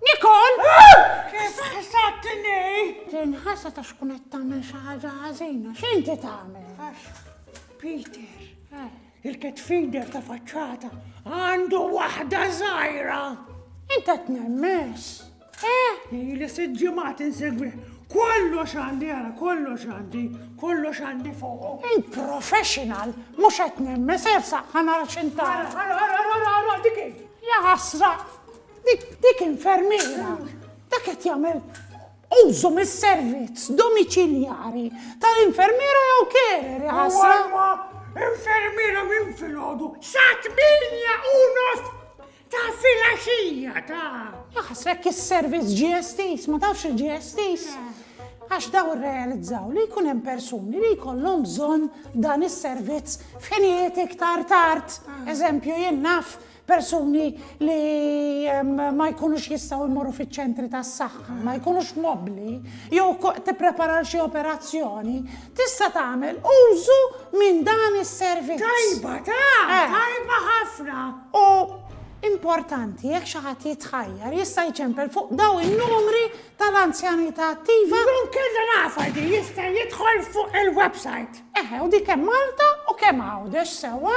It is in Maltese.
Nikol! Kif ħasabtni? Tinħasa ta' xkun qed tagħmel xi ħaġa ħażina, x'inti tagħmel? Peter, eh. il-ket feeder ta' faċċata għandu waħda żgħira. Inta tnemmes. Ili sitt ġimgħat insegwi. Kollox għandi għara, kollox għandi, kollox għandi fuq. Il-professional mhux qed nemmen se jersaq ħanara x'intara. Ara, ara, ara, ara, dik hi. Ja ħasra, dik infermiera. Dak qed jagħmel użu mis-servizz domiċiljari tal-infermiera jew kerri ħasra. Infermiera minn filgħodu sa tminja u nofs Ta' filgħaxija ta'. Laħas hekk is-servizz ġie estiż, ma tafx li ġie estiż? Għax dawn irrealizzaw li jkun hemm persuni li jkollhom bżonn dan is-servizz f'ħinijiet iktar tard. Eżempju, jien naf persuni li ma jkunux jistgħu jmorru fiċ-ċentri tas-saħħa, ma jkunux mobbli, jew tipprepara xi operazzjoni, Tista' tagħmel użu minn dan is-servizz. Tajba, ta, tajba ħafna! U importanti, jekk xi ħadd jitħajjar, jista' jċempel fuq dawn in-numri tal-anzjanità attiva. Jew inkella nafha din, jista' jidħol fuq il-website. Eħe, u dik hemm Malta u kemm Għawdex sewwa.